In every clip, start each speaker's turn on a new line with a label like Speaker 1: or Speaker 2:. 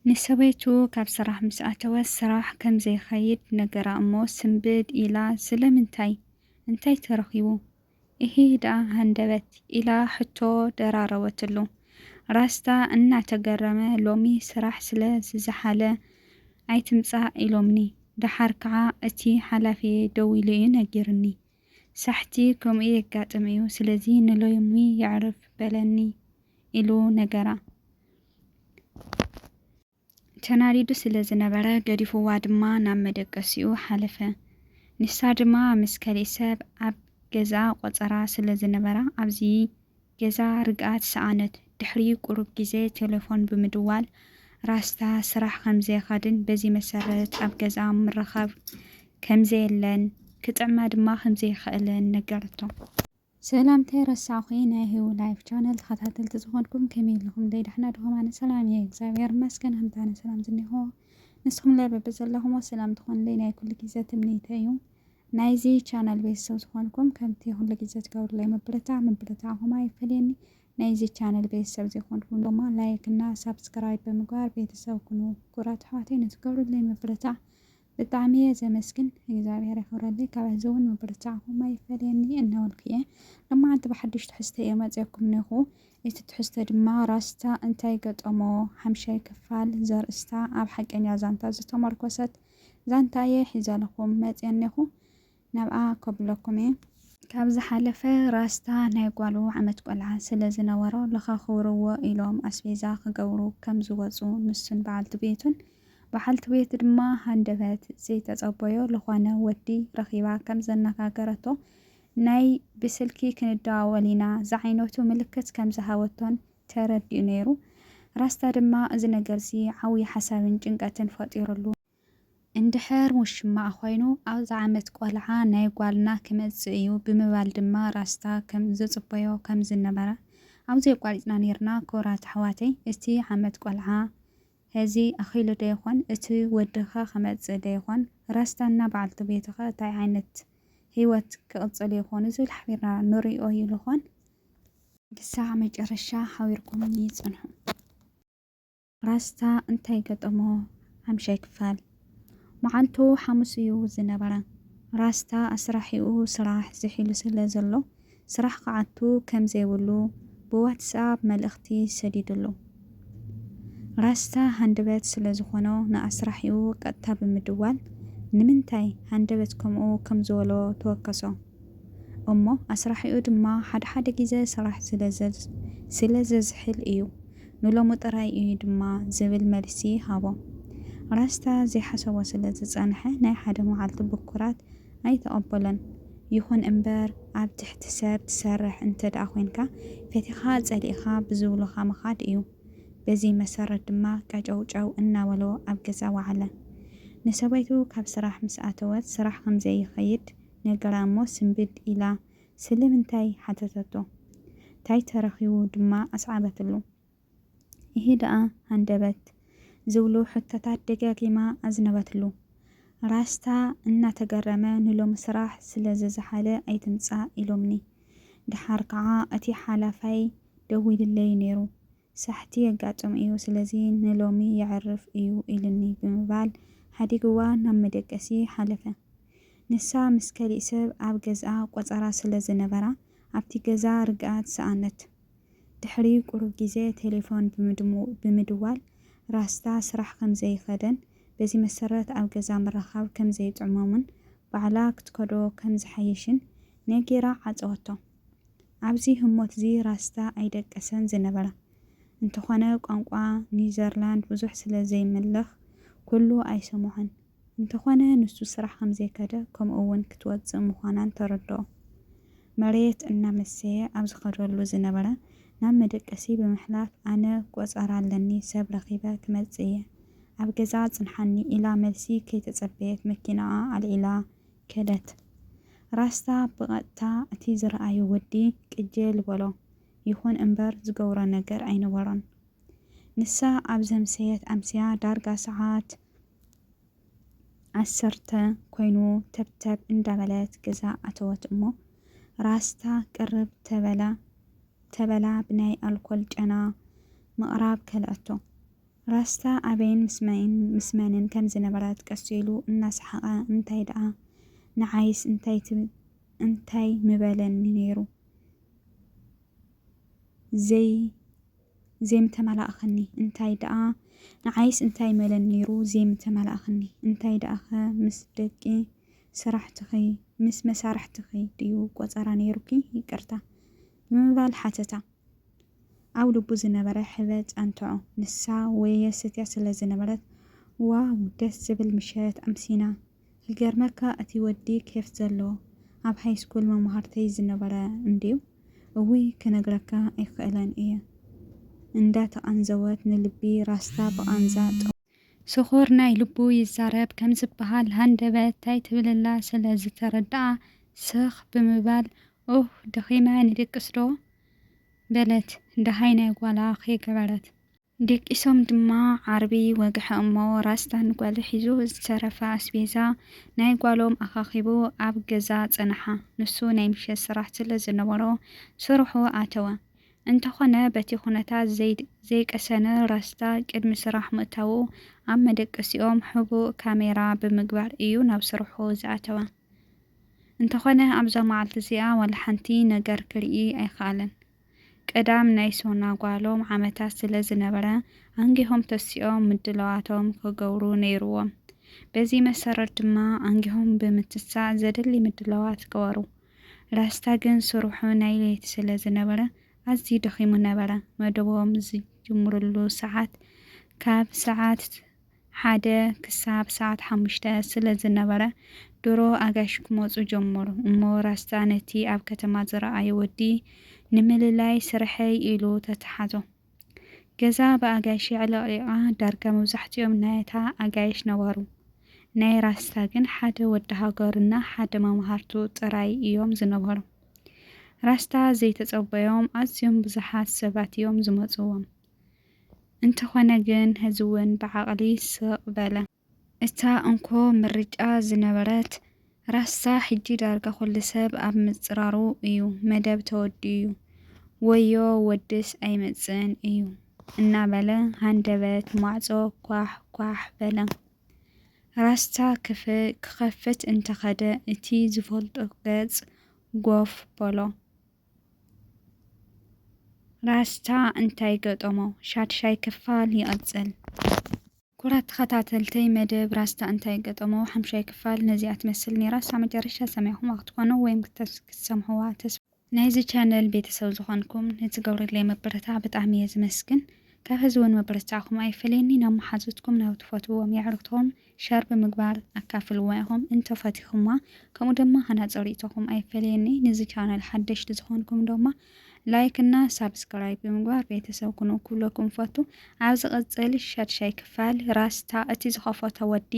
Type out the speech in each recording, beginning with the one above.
Speaker 1: ንሰበይቱ ካብ ስራሕ ምስ ኣተወ ስራሕ ከም ዘይኸይድ ነገራ እሞ ስንብድ ኢላ ስለምንታይ? እንታይ ተረኺቡ? እሂ ደኣ ሃንደበት ኢላ ሕቶ ደራረበትሉ። ራስታ እናተገረመ ሎሚ ስራሕ ስለ ዝዘሓለ ኣይትምጻእ ኢሎምኒ፣ ደሓር ከኣ እቲ ሓላፊየይ ደዊሉ'ዩ ነጊሩኒ። ሳሕቲ ከምኡ የጋጥም እዩ፣ ስለዚ ንሎይሚ የዕርፍ በለኒ ኢሉ ነገራ። ተናዲዱ ስለ ዝነበረ ገዲፉዋ ድማ ናብ መደቀሲኡ ሓለፈ። ንሳ ድማ ምስ ከሊእ ሰብ ኣብ ገዝኣ ቆጸራ ስለ ዝነበራ ኣብዚ ገዛ ርግኣት ሰኣነት። ድሕሪ ቁሩብ ግዜ ቴለፎን ብምድዋል ራስታ ስራሕ ከምዘይኸድን በዚ መሰረት ኣብ ገዝኣ ምርኻብ ከምዘየለን ክጥዕማ ድማ ከምዘይክእልን ነገረቶ። ሰላም ከይ ረሳዕኩ ናይ ሂዊ ላይፍ ቻነል ተከታተልቲ ዝኮንኩም ከመይ ኣለኩም ደይ ዳሕና ድኩም ኣነ ሰላም እየ እግዚኣብሔር ይመስገን ከምቲ ኣነ ሰላም ዝኒሆ ንስኩም ለይ በብዘለኩሞ ሰላም ትኮኑለይ ናይ ኩሉ ግዜ ትምኒተይ እዩ ናይዚ ቻነል ቤተሰብ ዝኾንኩም ከምቲ ኩሉ ግዜ ትገብሩለይ ምብርታዕ ምብርታዕኹም ኣይፈለየኒ። ናይዚ ቻነል ቤተሰብ ዘይኮንኩም ድማ ላይክ እና ሳብስክራይብ ብምግባር ቤተሰብ ኩኑ። ኩራት ኣሕዋተይ ንትገብሩለይ ምብርታዕ ብጣዕሚ እየ ዘመስግን እግዚኣብሔር የኽብረለይ። ካብ ሕዚ እውን ምብርታዕኹም ኣይፈለየኒ እናበልኩ እየ ሎማዓንቲ ብሓዱሽ ትሕዝቶ እየ መፂኦኩም ነኹ። እቲ ትሕዝቶ ድማ ራስታ እንታይ ገጠሞ ሓምሻይ ክፋል ዘርእስታ ኣብ ሓቀኛ ዛንታ ዝተመርኮሰት ዛንታየ ሒዘልኹም መጽየ እኔኹ ናብኣ ከብለኩም እየ። ካብ ዝሓለፈ ራስታ ናይ ጓሉ ዓመት ቆልዓ ስለ ዝነበሮ ለኻኽብርዎ ኢሎም ኣስቤዛ ክገብሩ ከም ዝወጹ ንሱን በዓልቲ ቤቱን በዓልቲ ቤት ድማ ሃንደበት ዘይተጸበዮ ልኾነ ወዲ ረኺባ ከም ዘነጋገረቶ ናይ ብስልኪ ክንደዋወል ኢና ዝዓይነቱ ምልክት ከም ዝሃበቶን ተረዲኡ ነይሩ። ራስታ ድማ እዚ ነገር'ዚ ዓውዪ ሓሳብን ጭንቀትን ፈጢሩሉ። እንድሕር ውሽማኣ ኮይኑ ኣብዚ ዓመት ቆልዓ ናይ ጓልና ክመጽእ እዩ ብምባል ድማ ራስታ ከም ዘጽበዮ ከም ዝነበረ ኣብዚ ኣቋሪጽና ነይርና። ክቡራት ኣሕዋተይ እቲ ዓመት ቆልዓ ሐዚ ኣኺሉዶ ይኾን? እቲ ወዲኸ ክመጽእ ዶ ይኾን? ራስታና በዓልቲ ቤቱኸ እንታይ ዓይነት ህይወት ክቕጽሉ ይኾኑ ዝብል ሓቢርና ንሪኦ ይልኾን? ክሳዕ መጨረሻ ሓቢርኩምኒ ጽንሑ። ራስታ እንታይ ገጠሞ ሓምሻይ ክፋል። መዓልቱ ሓሙስ እዩ ዝነበረ። ራስታ ኣስራሒኡ ስራሕ ዝሒሉ ስለ ዘሎ ስራሕ ክኣቱ ከም ዘይብሉ ብዋትስኣፕ መልእኽቲ ሰዲዱሉ። ራስታ ሃንደበት ስለ ዝኾኖ ንኣስራሒኡ ቀጥታ ብምድዋል ንምንታይ ሃንደበት ከምኡ ከም ዝበሎ ተወከሶ። እሞ ኣስራሒኡ ድማ ሓደ ሓደ ግዘ ስራሕ ስለ ዘዝሕል እዩ፣ ንሎሚ ጥራይ እዩ ድማ ዝብል መልሲ ሃቦ። ራስታ ዘይሓሰቦ ስለ ዝጸንሐ ናይ ሓደ መዓልቲ ብኩራት ኣይተቐበሎን። ይኹን እምበር ኣብ ትሕቲ ሰብ ትሰርሕ እንተድኣ ኮይንካ ፈቲኻ ጸሊእኻ ብዝብሉኻ ምኻድ እዩ። በዚ መሰረት ድማ ቀጨውጨው እናበሎ ኣብ ገዛ ወዓለ። ንሰበይቱ ካብ ስራሕ ምስ ኣተወት ስራሕ ከም ዘይኸይድ ነገራ እሞ ስንብድ ኢላ ስለምንታይ ሓተተቶ። ታይ ተረኺቡ ድማ ኣስዓበትሉ። እሂ ደኣ ሃንደበት ዝብሉ ሕቶታት ደጋጊማ ኣዝነበትሉ። ራስታ እናተገረመ ንሎሚ ስራሕ ስለ ዝዘሓለ ኣይትምጻእ ኢሎምኒ። ደሓር ከኣ እቲ ሓላፋይ ደዊሉለይ ነይሩ። ሳሕቲ የጋጥም እዩ ስለዚ ንሎሚ የዕርፍ እዩ ኢሉኒ ብምባል ሓዲግዋ ናብ መደቀሲ ሓለፈ። ንሳ ምስ ከሊእ ሰብ ኣብ ገዝኣ ቆጸራ ስለ ዝነበራ ኣብቲ ገዛ ርግኣት ሰኣነት። ድሕሪ ቁሩብ ግዜ ቴሌፎን ብምድዋል ራስታ ስራሕ ከም ዘይኸደን በዚ መሰረት ኣብ ገዛ ምርኻብ ከም ዘይጥዕሞምን ባዕላ ክትከዶ ከም ዝሓይሽን ነጊራ ዓጸወቶ። ኣብዚ ህሞትዚ ራስታ ኣይደቀሰን ዝነበረ። እንተኾነ ቋንቋ ኒውዘርላንድ ብዙሕ ስለ ዘይምልኽ ኩሉ ኣይሰምዖን። እንተኾነ ንሱ ስራሕ ከምዘይከደ ከምኡ'ውን ክትወጽእ ምዃናን ተረድኦ። መሬት እናመሰየ ኣብ ዝኸደሉ ዝነበረ ናብ መደቀሲ ብምሕላፍ ኣነ ቆጸራ ኣለኒ ሰብ ረኺበ ክመጽእ እየ ኣብ ገዛ ጽንሓኒ ኢላ መልሲ ከይተጸበየት መኪናኣ ኣልዒላ ከደት። ራስታ ብቐጥታ እቲ ዝረኣዮ ወዲ ቅጅል በሎ። ይኹን እምበር ዝገብሮ ነገር ኣይነበሮን። ንሳ ኣብ ዘምሰየት ኣምስያ ዳርጋ ሰዓት ዓሰርተ ኮይኑ ተብተብ እንዳበለት ገዛ ኣተወት እሞ ራስታ ቅርብ ተበላ ተበላ ብናይ ኣልኮል ጨና ምቕራብ ከልኣቶ። ራስታ ኣበይን ምስ መንን ከም ዝነበረት ቀስ ኢሉ እናሰሓቐ እንታይ ደኣ ንዓይስ እንታይ ምበለኒ ነይሩ ዘይብላ ዜምተመላእክኒ እንታይ ደኣ ንዓይስ እንታይ መለን ነይሩ ዜምተመላእክኒ እንታይ ደኣኸ ምስ ደቂ ስራሕትኺ ምስ መሳርሕትኺ ድዩ ቆጸራ ነይሩኪ ይቅርታ ብምባል ሓተታ ኣብ ልቡ ዝነበረ ሕበጥ ኣንተዖ ንሳ ወየ ሰትያ ስለ ዝነበረት ዋው ደስ ዝብል ምሸት ኣምሲና ይገርመካ እቲ ወዲ ኬፍ ዘለዎ ኣብ ሃይስኩል መማህርተይ ዝነበረ እንድዩ እውይ ክነግረካ ኣይክእለን እየ እንዳ ተቃንዘወት ንልቢ ራስታ ብቃንዛ ጠውያ። ስኹር ናይ ልቡ ይዛረብ ከምዝበሃል ሃንደበት ታይ ትብልላ ስለ ዝተረደኣ ስኽ ብምባል ኡህ ደኺመ ንድቅስ ዶ በለት ደሃይ ናይ ጓላ ከይገበረት። ደቂሶም ድማ ዓርቢ ወግሐ እሞ ራስታ ንጓሉ ሒዙ ዝተረፈ ኣስቤዛ ናይ ጓሎም ኣኻኺቡ ኣብ ገዛ ጸንሓ። ንሱ ናይ ምሸት ስራሕ ስለ ዝነበሮ ስርሑ ኣተወ። እንተኾነ በቲ ኩነታት ዘይቀሰነ ራስታ ቅድሚ ስራሕ ምእታዉ ኣብ መደቀሲኦም ሕቡእ ካሜራ ብምግባር እዩ ናብ ስርሑ ዝኣተወ። እንተኾነ ኣብዛ መዓልቲ እዚኣ ዋላ ሓንቲ ነገር ክርኢ ኣይኸኣለን። ቀዳም ናይ ሶና ጓሎም ዓመታት ስለ ዝነበረ፣ ኣንጊሆም ተሲኦም ምድላዋቶም ክገብሩ ነይሩዎም። በዚ መሰረት ድማ ኣንጊሆም ብምትሳእ ዘድሊ ምድላዋት ገበሩ። ራስታ ግን ስርሑ ናይ ለይቲ ስለ ዝነበረ ኣዝዩ ደኺሙ ነበረ። መደቦም ዝጅምርሉ ሰዓት ካብ ሰዓት ሓደ ክሳብ ሰዓት ሓሙሽተ ስለ ዝነበረ፣ ድሮ ኣጋይሽ ክመጹ ጀመሩ። እሞ ራስታ ነቲ ኣብ ከተማ ዝረኣዮ ወዲ ንምልላይ ስርሐይ ኢሉ ተተሓዞ። ገዛ ብኣጋይሽ የዕለቕሊቓ፣ ዳርጋ መብዛሕትኦም ናይታ ኣጋይሽ ነባሩ። ናይ ራስታ ግን ሓደ ወዲ ሃገሩና ሓደ መማህርቱ ጥራይ እዮም ዝነበሩ። ራስታ ዘይተጸበዮም ኣዝዮም ብዙሓት ሰባት እዮም ዝመጽዎም። እንተኾነ ግን ሕዚ እውን ብዓቕሊ ስቕ በለ። እታ እንኮ ምርጫ ዝነበረት ራስታ ሕጂ ዳርጋ ኩሉ ሰብ ኣብ ምጽራሩ እዩ። መደብ ተወዲኡ እዩ። ወዮ ወድስ ኣይመጽእን እዩ እናበለ ሃንደበት ማዕጾ ኳሕ ኳሕ በለ። ራስታ ክኸፍት እንተኸደ እቲ ዝፈልጦ ገጽ ጎፍ በሎ። ራስታ እንታይ ገጠሞ ሻድሻይ ክፋል ይቅጽል። ኩራት ተኸታተልተይ መደብ ራስታ እንታይ ገጠሞ ሓምሻይ ክፋል ነዚኣ ትመስል ኔራ ሳብ መጨረሻ ሰሚዕኹማ ክትኮኑ ወይም ክትሰምዕዋ ተስፋ። ናይዚ ቻነል ቤተሰብ ዝኾንኩም ንትገብርለይ ምብርታዕ ብጣዕሚ እየ ዝመስግን ካብ ሀዚ ውን ምብርታዕኹም ኣይፈለየኒ ናብ መሓዙትኩም ናብ ትፈትውዎም የዕሩኽትኹም ሸር ብምግባር ኣካፍልዋ ኢኹም እንተ ፈቲኹማ ከምኡ ደማ ሃናጺ ሪኢቶኹም ኣይፈለየኒ ንዚ ቻነል ሓደሽቲ ዝኾንኩም ደማ ላይክ እና ሳብስክራይብ ብምግባር ቤተሰብ ኩኑ ክብለኩም ፈቱ ኣብ ዝቕጽል ሻድሻይ ክፋል ራስታ እቲ ዝኸፈቶ ወዲ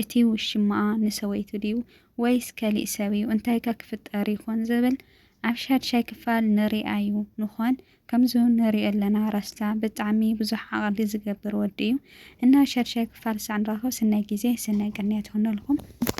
Speaker 1: እቲ ውሽማኣ ንሰበይቱ ድዩ ወይስ ከሊእ ሰብ እዩ እንታይከ ክፍጠር ይኾን ዝብል ኣብ ሻድሻይ ክፋል ንሪኣዩ ንኾን ከምዙ ንሪኦ ኣለና ራስታ ብጣዕሚ ብዙሕ ዓቅሊ ዝገብር ወዲ እዩ እና ሸድሻይ ክፋል ሳዕ ንራከብ ስናይ ግዜ ስናይ ቅንያት ይኩነልኩም።